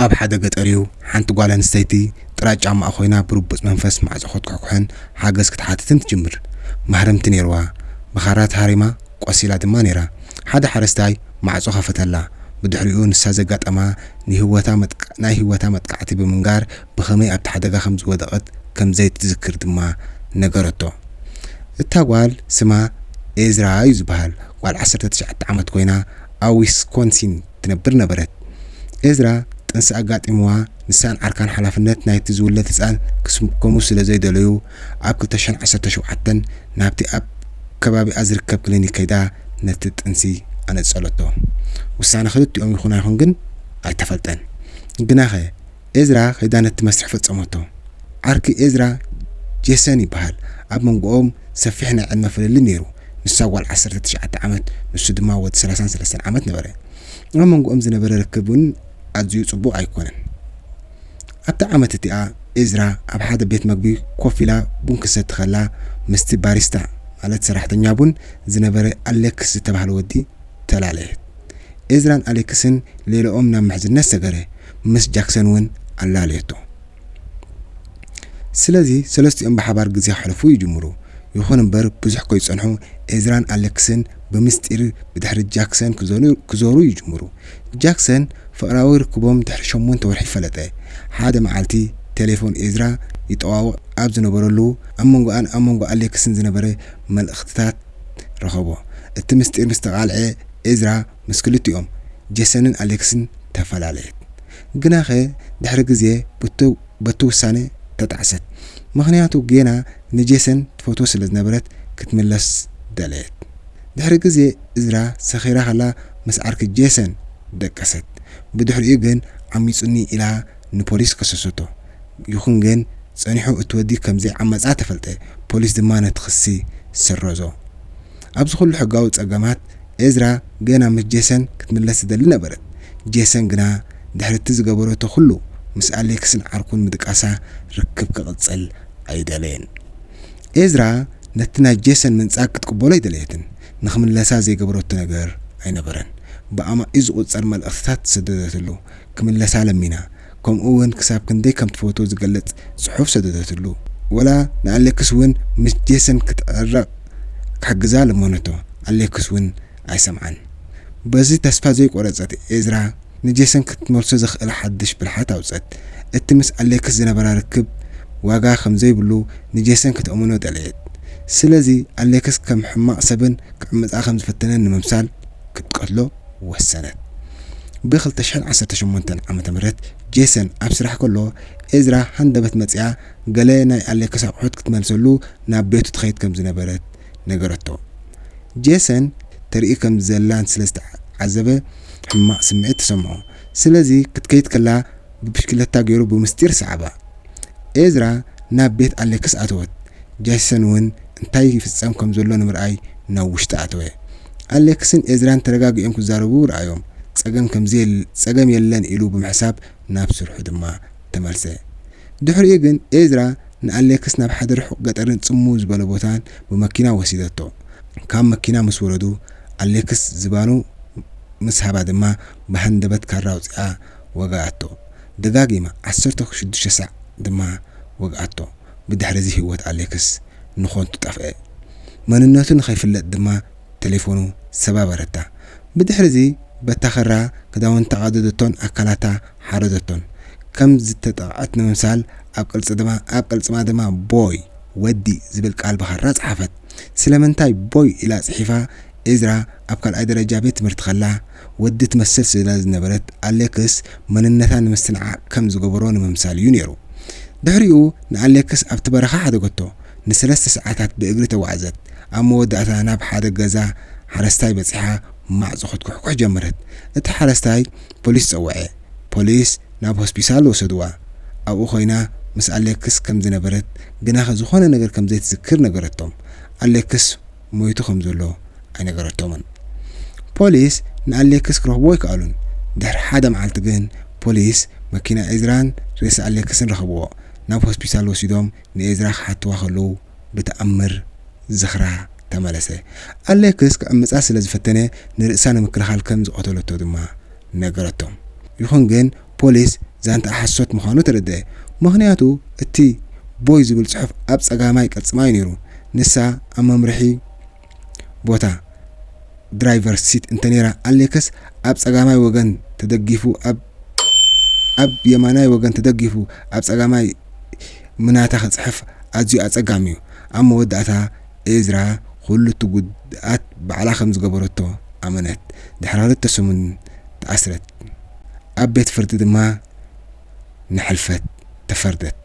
ኣብ ሓደ ገጠር'ዩ፣ ሓንቲ ጓል ኣንስተይቲ ጥራይ ጫማኣ ኮይና ብርቡጽ መንፈስ ማዕጾ ክትኩሕኩሕን ሓገዝ ክትሓትትን ትጅምር። ማህረምቲ ነይርዋ፣ ብኻራ ተሃሪማ ቆሲላ ድማ ነይራ። ሓደ ሓረስታይ ማዕጾ ከፈተላ፣ ብድሕሪኡ ንሳ ዘጋጠማ ናይ ህይወታ መጥቃዕቲ ብምንጋር ብኸመይ ኣብቲ ሓደጋ ከም ዝወደቐት ከም ዘይትዝክር ድማ ነገረቶ። እታ ጓል ስማ ኤዝራ'ዩ ዝበሃል፣ ጓል ዓሰርተ ትሽዓተ ዓመት ኮይና ኣብ ዊስኮንሲን፣ ትነብር ነበረት። ኤዝራ ጥንሲ ኣጋጢምዋ ንሳን ዓርካን ሓላፍነት ናይቲ ዝውለድ ህጻን ክስከሙ ስለ ዘይደለዩ ኣብ ክልተ ሽሕን ዓሰርተ ሸውዓተን ናብቲ ኣብ ከባቢኣ ዝርከብ ክሊኒክ ከይዳ ነቲ ጥንሲ ኣነጸለቶ። ውሳነ ክልቲኦም ይኹን ኣይኹን ግን ኣይተፈልጠን። ግናኸ፣ ኤዝራ ከይዳ ነቲ መስርሕ ፈጸመቶ። ዓርኪ ኤዝራ ጄሰን ይበሃል፣ ኣብ መንጎኦም ሰፊሕ ናይ ዕድመ ፍልልይ ነይሩ፣ ንሳ ጓል ዓሰርተ ትሽዓተ ዓመት ንሱ ድማ ወዲ ሰላሳን ሰለስተን ዓመት ነበረ። ኣብ መንጎኦም ዝነበረ ርክብ እውን ኣዝዩ ጽቡቕ ኣይኰነን። ኣብታ ዓመት እቲኣ ኤዝራ ኣብ ሓደ ቤት መግቢ ኮፍ ኢላ ቡን ክትሰቲ ኸላ ምስቲ ባሪስታ ማለት ሰራሕተኛ ቡን ዝነበረ ኣሌክስ ዝተባህለ ወዲ ተላለየት። ኤዝራን ኣሌክስን ሌላኦም ናብ ምሕዝነት ሰገረ፣ ምስ ጃክሰን እውን ኣላለየቶ። ስለዚ ሰለስቲኦም ብሓባር ግዜ ከሕልፉ ይጅምሩ። ይኹን እምበር ብዙሕ ከይጸንሑ ኤዝራን ኣሌክስን ብምስጢር ብድሕሪ ጃክሰን ክዞሩ ይጅምሩ። ጃክሰን ፍቕራዊ ርክቦም ድሕሪ ሸሞንተ ወርሒ ፈለጠ። ሓደ መዓልቲ ቴሌፎን ኤዝራ ይጠዋውቕ ኣብ ዝነበረሉ ኣብ መንጎኣን ኣብ መንጎ ኣሌክስን ዝነበረ መልእኽትታት ረኸቦ። እቲ ምስጢር ምስ ተቓልዔ፣ ዒዝራ ምስ ክልቲኦም፣ ጄሰንን ኣሌክስን፣ ተፈላለየት። ግናኸ ድሕሪ ግዜ በቲ ውሳነ ተጣዕሰት፣ ምኽንያቱ ጌና ንጄሰን ትፈትዎ ስለ ዝነበረት ክትምለስ ደለየት። ድሕሪ ግዜ ዒዝራ ሰኺራ ከላ ምስ ዓርኪ ጄሰን ደቀሰት፣ ብድሕሪኡ ግን ዓሚጹኒ ኢላ ንፖሊስ ከሰሰቶ። ይኹን ግን ጸኒሑ እቲ ወዲ ከም ዘይዓመጻ ተፈልጠ፣ ፖሊስ ድማ ነቲ ክሲ ሰረዞ። ኣብዚ ዅሉ ሕጋዊ ጸገማት፣ ኤዝራ ገና ምስ ጄሰን ክትምለስ ትደሊ ነበረት። ጄሰን ግና ድሕሪ እቲ ዝገበረቶ ዅሉ፣ ምስ ኣሌክስን ዓርኩን ምድቃሳ ርክብ ክቕጽል ኣይደለየን። ኤዝራ ነቲ ናይ ጄሰን ምንጻግ ክትቅበሎ ኣይደለየትን፣ ንኽምለሳ ዘይገበረቶ ነገር ኣይነበረን። ብኣማኢት ዝቝጸር መልእኽትታት ሰደደትሉ፣ ክምለሳ ለሚና፣ ከምኡ ውን ክሳብ ክንደይ ከም ትፈትዎ ዝገልጽ ጽሑፍ ሰደደትሉ። ወላ ንኣሌክስ ውን ምስ ጄሰን ክትዕረቕ ክሕግዛ ለመነቶ፣ ኣሌክስ ውን ኣይሰምዓን። በዚ ተስፋ ዘይቆረጸት ኤዝራ ንጄሰን ክትመልሶ ዘኽእል ሓድሽ ብልሓት ኣውጸት። እቲ ምስ ኣሌክስ ዝነበራ ርክብ ዋጋ ከም ዘይብሉ ንጄሰን ከተእምኖ ደለየት። ስለዚ ኣሌክስ ከም ሕማቕ ሰብን ክዕምጻ ከም ዝፈተነን ንምምሳል ክትቀትሎ። ወሰነት። ብ ክልተ ሽሕን ዓሰርተ ሸሞንተን ዓመተ ምህረት ጄሰን ኣብ ስራሕ ከሎ፣ ኤዝራ ሃንደበት መጺኣ ገለ ናይ ኣሌክስ ኣቑሑት ክትመልሰሉ ናብ ቤቱ ትኸይድ ከም ዝነበረት ነገረቶ። ጄሰን ተርኢ ከም ዘላን ስለ ዝተዓዘበ ሕማቕ ስምዒት ተሰምዖ። ስለዚ ክትከይድ ከላ ብብሽክለታ ገይሩ ብምስጢር ሰዓባ። ኤዝራ ናብ ቤት ኣሌክስ ኣተወት። ጃሲሰን እውን እንታይ ይፍጸም ከም ዘሎ ንምርኣይ ናብ ውሽጢ ኣተወ። ኣሌክስን ኤዝራን ተረጋጊኦም ክዛረቡ ረኣዮም። ጸገም ከም ዘየለ ጸገም የለን ኢሉ ብምሕሳብ ናብ ስርሑ ድማ ተመልሰ። ድሕሪኡ ግን ኤዝራ ንኣሌክስ ናብ ሓደ ርሑቕ ገጠርን ጽምው ዝበለ ቦታን ብመኪና ወሲደቶ። ካብ መኪና ምስ ወረዱ ኣሌክስ ዝባኑ ምስ ሃባ ድማ ብሃንደበት ካራ ኣውጺኣ ወግኣቶ። ደጋጊማ ዓሰርተ ሽዱሽተ ሳዕ ድማ ወግኣቶ። ብድሕሪ'ዚ ህይወት ኣሌክስ ንኾንቱ ጠፍኣ። መንነቱ ንኸይፍለጥ ድማ ተሌፎኑ ሰባበረታ። ብድሕሪ'ዚ በታ ክራ ክዳውንታ ቀደደቶን ኣካላታ ሓረደቶን። ከም ዝተጠቕዐት ንምምሳል ኣብ ቅልጽማ ድማ ቦይ፣ ወዲ፣ ዝብል ቃል ብኻራ ጸሓፈት። ስለምንታይ ቦይ ኢላ ጽሒፋ? እዝራ ኣብ ካልኣይ ደረጃ ቤት ትምህርቲ ከላ ወዲ ትመስል ስለ ዝነበረት ኣሌክስ መንነታ ንምስትንዓቕ ከም ዝገበሮ ንምምሳል እዩ ነይሩ። ድሕሪኡ ንኣሌክስ ኣብቲ በረኻ ሓደገቶ፣ ንሰለስተ ሰዓታት ብእግሪ ተጓዕዘት፣ ኣብ መወዳእታ ናብ ሓደ ገዛ ሓረስታይ በጺሓ ማዕጾ ክትኩሕኩሕ ጀመረት። እቲ ሓረስታይ ፖሊስ ጸውዐ፣ ፖሊስ ናብ ሆስፒሳል ወሰድዋ፣ ኣብኡ ኮይና ምስ ኣሌክስ ከም ዝነበረት ግናኸ ዝኾነ ነገር ከም ዘይትዝክር ነገረቶም። ኣሌክስ። ሞይቱ ከም ዘሎ ኣይነገረቶምን። ፖሊስ ንኣሌክስ ክረኽብዎ ኣይከኣሉን። ድሕሪ ሓደ መዓልቲ ግን ፖሊስ መኪና ኤዝራን ሬሳ ኣሌክስን ረኸብዎ። ናብ ሆስፒታል ወሲዶም ንኤዝራ ክሓትዋ ከለዉ ብተኣምር ዝኽራ ተመለሰ። ኣሌክስ ክዕምጻ ስለ ዝፈተነ ንርእሳ ንምክልኻል ከም ዝቐተለቶ ድማ ነገረቶም። ይኹን ግን ፖሊስ ዛንትኣ ሓሶት ምዃኑ ተረድኣ። ምኽንያቱ እቲ ቦይ ዝብል ጽሑፍ ኣብ ጸጋማይ ቅልጽማ'ዩ ነይሩ። ንሳ ኣብ መምርሒ ቦታ፣ ድራይቨርስ ሲት፣ እንተነይራ ኣሌክስ ኣብ ጸጋማይ ወገን ተደጊፉ ኣብ ኣብ የማናይ ወገን ተደጊፉ ኣብ ጸጋማይ ምናታ ክጽሕፍ ኣዝዩ ኣጸጋሚ'ዩ። ኣብ መወዳእታ ኤዝራ ዅሉ እቲ ጕድኣት ባዕላ ኸም ዝገበረቶ ኣመነት፣ ድሕሪ ኽልተ ሰሙን ተኣስረት፣ ኣብ ቤት ፍርዲ ድማ ንሕልፈት ተፈርደት።